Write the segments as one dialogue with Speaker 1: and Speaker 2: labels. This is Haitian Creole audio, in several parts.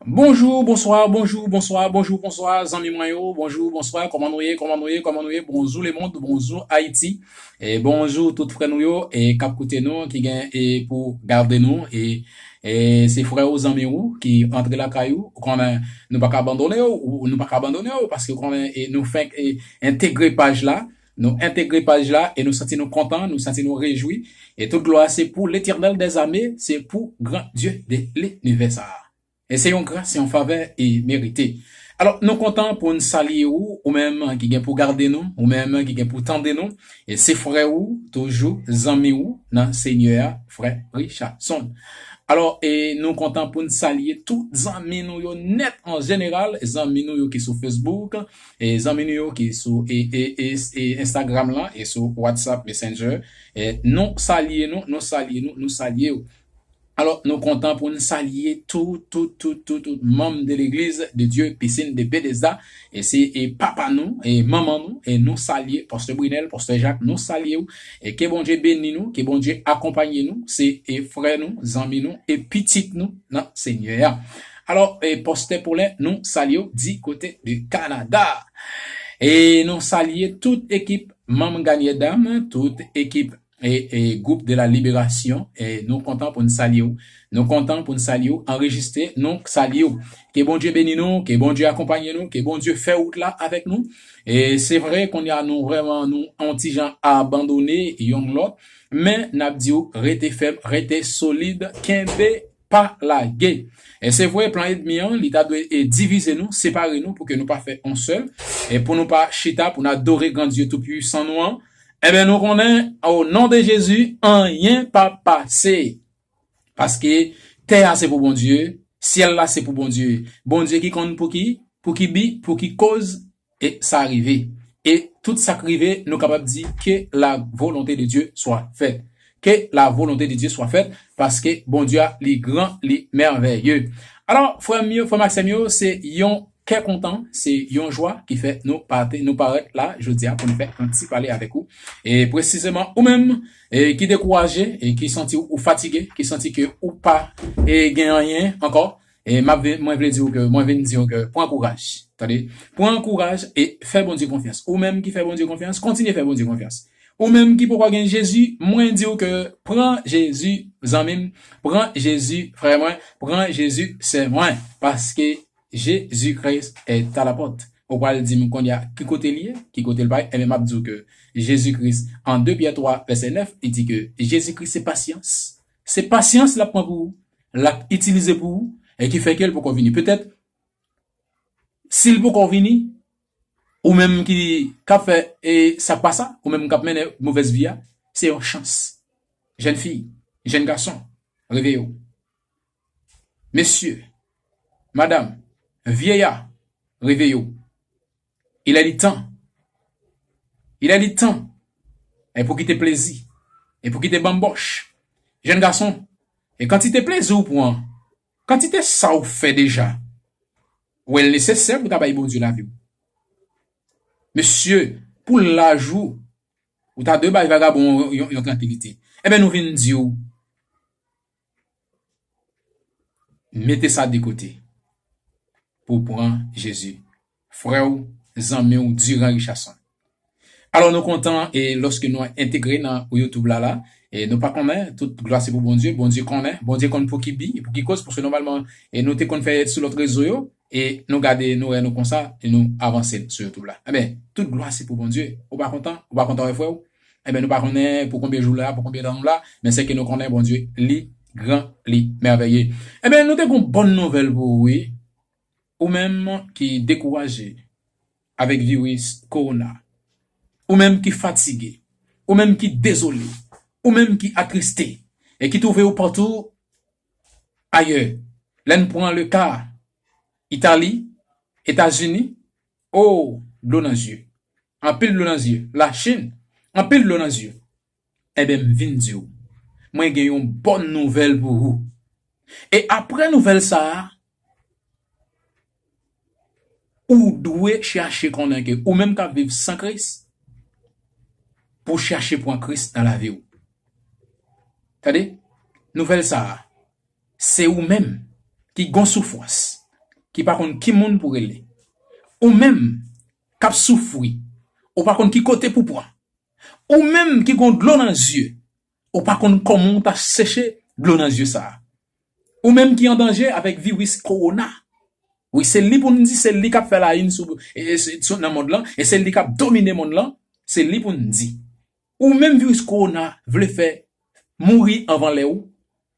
Speaker 1: Bonjou, bonswa, bonjou, bonswa, bonjou, bonswa, zanmi mwen yo, bonjou, bonswa, kòman nou ye, kòman nou ye, kòman nou ye, bonjou lemond, bonjou Ayiti, e bonjou tout frè nou yo e k ap koute nou, ki gen e pou gade nou e e se frè ou, zanmi ou ki antre lakay ou, ou konnen nou pa ka abandone ou, nou pa ka abandone ou paske ou konnen e nou fenk e entegre paj la. Nou entegre paj la e nou santi nou kontan, nou santi nou rejwi e tout glwa se pou Letènèl dè zame, se pou gran Dye de linivè sa a. E se yon gras, se yon favè e merite. Alò nou kontan pou n salye ou, ou menm ki gen pou gade nou, ou menm ki gen pou tande nou, e se frè ou toujou, zanmi ou nan Senyè a, frè Richardson. Alò e nou kontan pou n salye tout zanmi nou yo nèt an jeneral, zanmi nou yo ki sou Facebook, zanmi nou yo ki sou Instagram la e sou WhatsApp Messenger nou salye nou, nou salye nou, nou salye yo. Alò nou kontan pou nou salye tout, tout, tout, tout, tout manm de legliz de Dye Piscine de Bethesda e se papa nou e manman nou e nou salye Pastè Brinel, Pastè Jacques nou salye yo e ke Bondye beni nou, ke Bondye akonpanye nou se frè nou, zanmi nou e pitit nou nan Senyè a. Alò Pastè Paulin nou salyew di kote de Canada. E nou salye tout ekip Manm Gagner Dam, tout ekip Groupe de la Liberation nou kontan poun salyew. Nou kontan poun salyew anrejiste nou salyew. Ke Bondye beni nou, ke Bondye akonpanye nou, ke Bondye fè wout la avèk nou. E se vre konnya nou vrèman nou on ti jan abandone yonn lòt men nap diw rete fèm, rete solid, kenbe. pa lage. E se vre plan edmi an li ta dwe e divize nou, separe nou pou ke nou pa fè on sèl, e pou nou pa chita pou n adore gran Dye tou pwisan nou an, enben nou konnen o non de Jezi anyen pa pase. Paske tè a se pou Bondye, syèl la se pou Bondye. Bondye ki konn pou ki, pou ki bi, pou ki koz E sa rive. E tout sa k rive, nou kapab di, Ke la volonte de Dye swa fèt. Ke la volonte de Dye swa fèt, paske Bondye a li gran, li mèvèye. Alò, frè m yo, frè m ak sè m yo, se yon kè kontan, se yon jwa ki fè nou pati, nou parèt la jodi a pou nou fè yon ti pale avèk ou. E presizeman ou menm ki dekouraje, ki santi ou fatige, ki santi ke ou pa gen anyen ankò, E map vin mwen vle diw ke mwen vin diw ke pran kouraj tande pran kouraj e fè Bondye konfyans ou menm ki fè Bondye konfyans kontinye fè Bondye konfyans ou menm ki poko gen Jezi mwen diw ke pran Jezi zanmim pran Jezi frè mwen pran Jezi sè mwen paske Jezi Kris est a la porte ou pral dim konnya ki kote li ye ki kotel pa ye enben map diw ke Jezi Kris an 2 Pyè 3 vèsè 9 li di ke Jezi Kris se pasyans Se pasyans lap pran pou ou, lap itilize pou ou e ki fè ke l poko vini. Petèt si l poko vini, ou menm ki kap fè e sa k pa sa, ou menm kap mennen movèz vi a, se yon chans. Jèn fi, jèn gason, reveye w. Mesye, madam, vyeya, reveye w. Il est du temps Il est du temps E pou kite plezi E pou kite banbòch Jèn gason E kantite plezi ou pran Kantite sa ou fè deja Ou wè l nesesè pou w ta bay Bondye lavi w Mesye Pou laj ou Ou ta dwe bay vagabon yon yon trankilite Enben nou vin di w Mete sa de kote pou w pran Jezi, frè w, zanmi w Durand Richardson. Alò nou kontan e lòske nou entegre nan YouTube la la, e nou pa konnen, tout glwa se pou Bondye, Bondye konnen, Bondye konn pouki bi, pouki koz, paske nòmalman e nou te konn fè sou lòt rezo yo, e nou gade nou wè nou konsa e nou avanse sou youtube la enben tout glwa se pou Bondye ou pa kontan ou pa kontan wè frè ou enben nou pa konnen pou konbyen jou la pou konbyen tan nou la men sèke nou konnen Bondye li gran li mèvèye enben nou te gon bòn nouvèl pou ou wi ou menm ki dekouraje avèk viris kowona ou menm ki fatige ou menm ki dezole ou menm ki atriste e ki twouve ou patou Ayè, lè n pran le ka Itali, Etazini, oo, dlo nan zye. Anpil dlo nan zye. Lachin, anpil dlo nan zye. Enben m vin di w, mwen gen yon bòn nouvèl pou ou. E apre nouvèl sa a, Ou dwe chache konnen ke ou menm kap viv san Kris, pou chache pran Kris nan lavi ou. Tande nouvèl sa a, se ou menm ki gon soufwans, ki pa konn ki moun pou rele, ou menm kap soufwi, ou pa konn ki kote pou pran, ou menm ki gon dlo nan zye, Ou pa konn kòman w ta seche dlo nan zye sa a. Ou menm ki an danje avèk viris kowona. Wi se li pou n di se li k ap fè la yn sou nan mond lan e se li k ap domine mond lan se li pou n di. Ou menm viris kowona vle fè mouri anvan lè ou.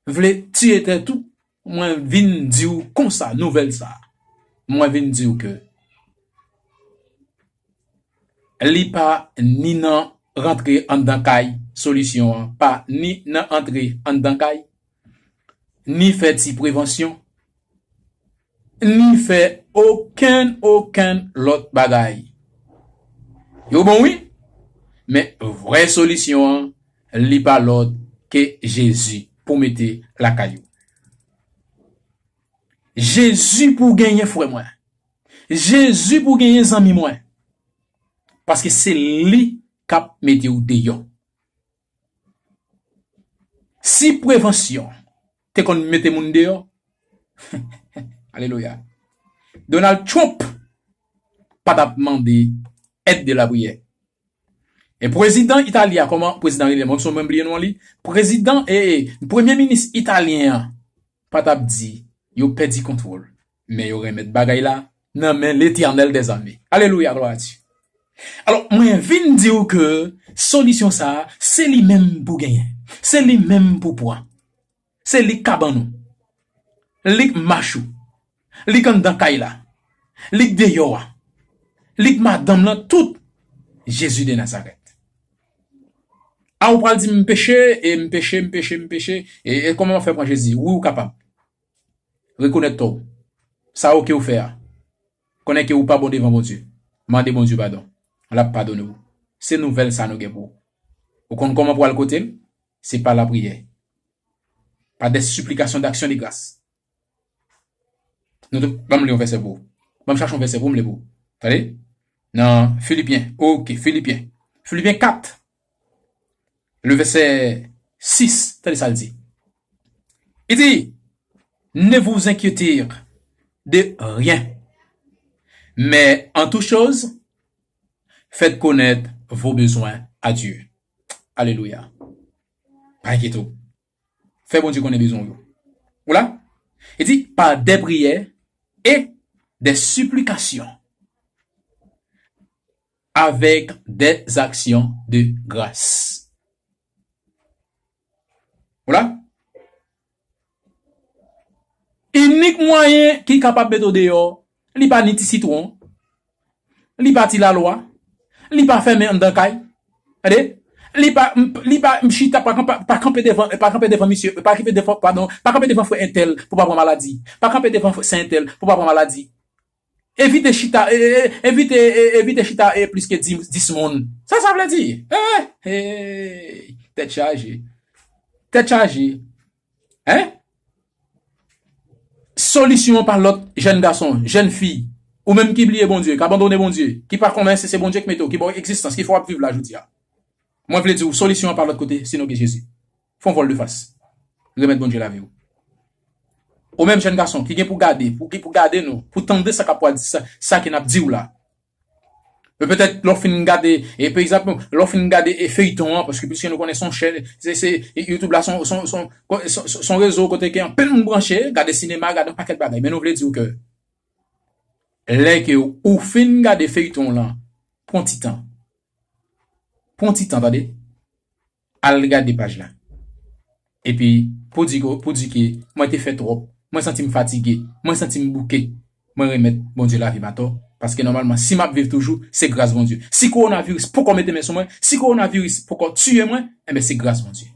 Speaker 1: Vle tiye tèt ou mwen vin diw konsa nouvèl sa mwen vin diw ke li pa ni nan rantre anndan kay solisyon an pa ni nan antre anndan kay ni fè ti prevansyon. ni fè okenn okenn lòt bagay. Yo bon wi, men vrè solisyon an li pa lòt ke Jezi pou mete lakay ou. Jezi pou w genyen frè mwen. Jezi pou w genyen zanmi mwen. Paske se li kap mete w deyò. Si prevansyon te konn mete moun deyò, alelouya, Donald Trump pa tap mande èd de lapriyè. E pwezidan Itali a, kòman pwezidan rele menm, mwen bliye non li, pwezidan, ee, pwemye minis Italyen an pa tap di yo pèdi kontwòl. Men yo renmèt bagay la nan men Letènèl dè zame. Alelouya glwa a Dye. Alò mwen vin di ou ke solisyon sa a se li menm pou genyen. Se li menm pou pwan. Se li k ka ban ou. Li k mach ou. Li k anndan kay la. Li k deyò a. Li k madanm lan tout. Jezi de Nazarèt. A ou pral di m peche e m peche m peche m peche e kòman m ap fè pran Jezi. Wi ou kapab. Rekonèt tò w. Sa ou ke ou fè a. Konnen ke ou pa bon devan Bondye. Mande Bondye padon. L ap padone w. Se nouvèl sa nou gen pou ou. Ou konn kòman pou al kote l? Se pa lapriyè. Pa des supplications d'action de grâce. Nou te, ban m li yon vèsè pou ou. Ban m chache yon vèsè pou m li pou ou. Tande? Nan Filipyen. Ok. Filipyen. Filipyen 4. Le vèsè 6, tande sa l di. Li di, Ne vous inquiéter de rien, mais en toute chose, faites connaître vos besoins à Dieu. Alelouya! Pa enkyete w. Fè Bondye konnen bezwen w yo. Ou la? Li di, pa dè priyè e dè siplikasyon avèk dè zaksyon de gras. Ou la? Inik mwayen ki kapab mete w deyò. Li pa ni ti sitwon. Li pa ti lalwa. Li pa fèmen anndan kay. Tande! Li pa, li pa chita, pa kanpe devan, pa kanpe devan misye, pa kanpe devan, padon, pa kanpe devan frè entèl pou pa pran maladi. Pa kanpe devan sè entèl pou pa pran maladi. Evite chita, evite, evite chita plis ke dis moun. Sa sa vle di? Eeh! Eeyy! Tèt chaje. Tèt chaje. Hein? Solisyon an pa lòt jèn gason, jèn fi, ou menm ki bliye Bondye, k abandone Bondye, ki pa konnen si se Bondye k mete w, ki ba w egzistans, ki fè w ap viv la jodi a. Mwen vle di w, solisyon an pa lòt kote sinon ke Jezi. Fè yon vòl de fas. Remèt Bondye lavi w. Ou menm jèn gason ki gen pou gade, pou gade nou, pou tande sa k ap pwal, sa ke n ap di w la, Petèt lè w fin gade e pa egzanp lè w fin gade e feyton an paske piske nou konnen son chèn se se youtube la son son son son rezo kote ke anpil moun branche gade sinema gade yon pakèt bagay men nou vle di w ke lè ke ou fin gade feyton w lan pran w ti tan pran w ti tan tande Al gade paj la. Epi, pou di ke, pou di ke, mwen te fè twòp, mwen santi m fatige, mwen santi m bouke, mwen remèt Bondye lavi m atò, paske nòmalman, si m ap viv toujou, se gras Bondye. Si kowonaviris poko mete men sou mwen, si kowonaviris poko tiye mwen, enben se gras Bondye.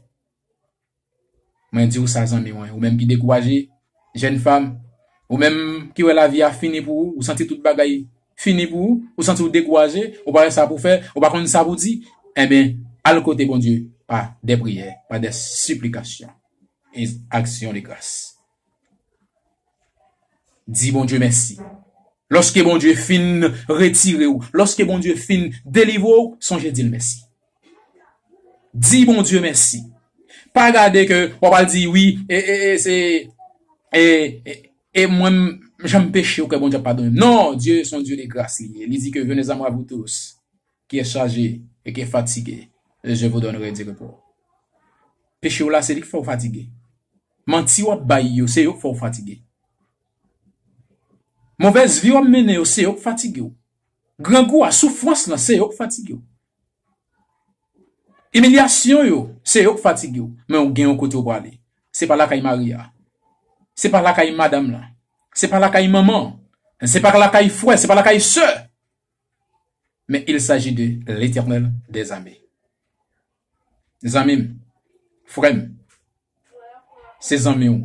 Speaker 1: Mwen di ou sa zanmi mwen, ou menm ki dekouraje, jèn fam, ou menm ki wè lavi a fini pou ou, ou santi tout bagay fini pou ou, ou santi ou dekouraje, ou pa wè sa pou fè, ou pa konn sa pou di, enben, al kote Bondye pa dè priyè, pa dè siplikasyon e aksyon de gras. Di Bondye mèsi. Lòske Bondye fin retire ou, lòske Bondye fin delivre ou, sonje di l mèsi. Di Bondye mèsi. Pa gade ke w ap al di wi e e e se e e e mwen m jan m peche ou ke Bondye ap padone m. Non, Dye se yon Dye de gras li ye. Li di ke venez a mwa vous tous. ki est chaje e ki est fatige e je vous donnerai du repos. Peche w la se li k fè w fatige. Manti w ap bay yo se yo k fè w fatige. Movèz vi w ap mennen yo se yo k fatige w. Grangou a, soufrans lan se yo k fatige w. Imilyasyon yo se yo k fatige w. Men w gen yon kote w prale. Se pa lakay mari a. Se pa lakay madam lan. Se pa lakay manman. Se pa lakay frè, se pa lakay sè. Men il saji de Letènèl dè zame. Zanmi m, frè m, se zanmi w,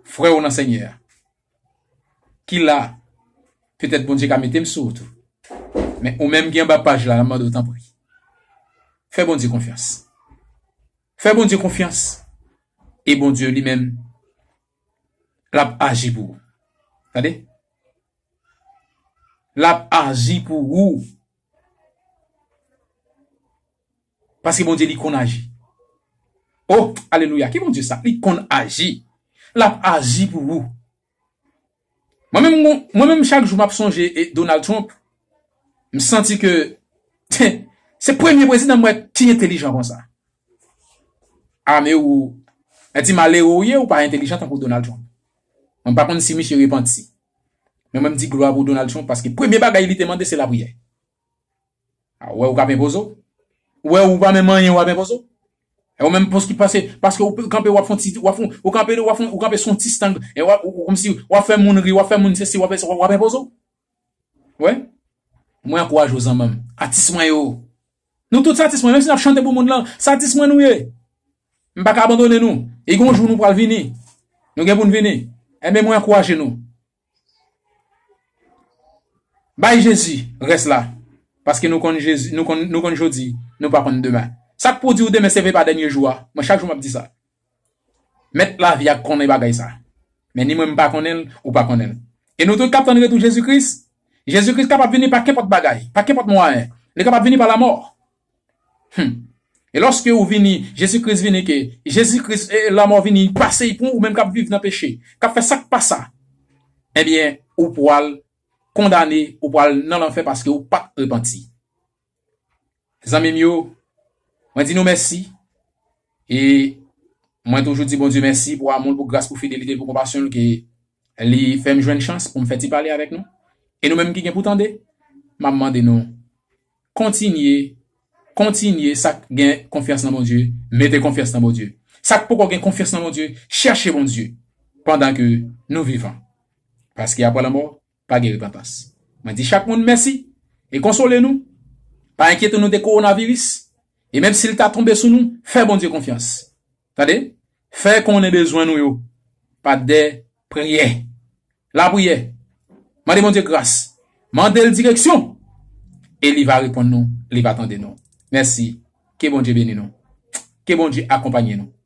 Speaker 1: frè w nan Senyè a, ki la a, petèt Bondye ka mete m sou ou tou. Men ou menm ki anba paj la, m ap mande w tanpri, fè Bondye konfyans. Fè Bondye konfyans, e Bondye li menm, l ap aji pou ou. Tande, Lap aji pou ou. Paske Bondye li konn aji. Oh alelouya ki Bondye sa li konn aji. Lap aji pou ou. Mwen menm gon mwen menm chak jou map sonje e Donald Trump m santi ke heh se premye prezidan m wè ki entelijan konsa. Ame ou mwen di malere ou ye ou pa entelijan tankou Donald Trump. Mwen pa konn si misye repanti. Mwen menm di glwa pou Donald Trump paske premye bagay li te mande se lapriyè. A ou wè ou kap enpoze w? Ou wè ou pa menm anyen wap enpoze w? E ou menm poski pase paske ou kanpe wap fon ti wap fon ou kanpe de wap fon ou kanpe son ti stang e wap ou komsi wap fè moun ri wap fè moun sesi wap fè sa wap enpoze w? Wè? Mwen ankouraje w zanman m. Atis mwen yo! Nou tout satis mwen menm si nap chante pou moun lan satis mwen nou ye m paka abandone nou e gon jou nou pral vini nou gen pou n vini enben mwen ankouraje nou bay jezi rès la paske nou konn jezi nou konn jodi nou pa konn demen sak pou diw demen se vre pa dènye jou a mwen chak jou map di sa. Mèt lavi a konnen bagay sa. Men ni mwen m pa konnen l, ou pa konnen l. E nou tout k ap tann retou Jezi Kris? Jezi Kris kapab vini pa kenpòt bagay, pa kenpòt mwayen. Li kapab vini pa lamò. Hum. E lòske ou vini, Jezi Kris vini ke Jezi Kris, lamò vini pase pou ou menm k ap viv nan peche, k ap fè sa k pa sa. Ebyen, ou pwal kondane, ou pwal nan lanfè paske ou pa t repanti. Zanmi m yo, mwen di nou mèsi e mwen toujou di Bondye mèsi pou amou l, pou gras, pou fidelite l, pou konpasyon l ke li fè m jwenn chans pou m fè ti pale avèk nou. E nou menm ki gen pou tande, m ap mande nou kontinye, kontinye sa k gen konfyans nan Bondye, mete konfyans nan Bondye. Sa k poko gen konfyans nan Bondye, chèche Bondye pandan ke nou vivan. Paske apre lanmò, pa gen repantans. Mwen di chak moun mèsi e konsole nou, pa enkyete nou de kowonaviris e menm si l ta tonbe sou nou, fè Bondye konfyans. Tande, fè konnen bezwen nou yo pa de priyè. Lapriyè, mande Bondye gras, mande l direksyon e li va reponn nou, li va tande nou. Mèsi, ke Bondye beni nou, ke Bondye akonpanye nou.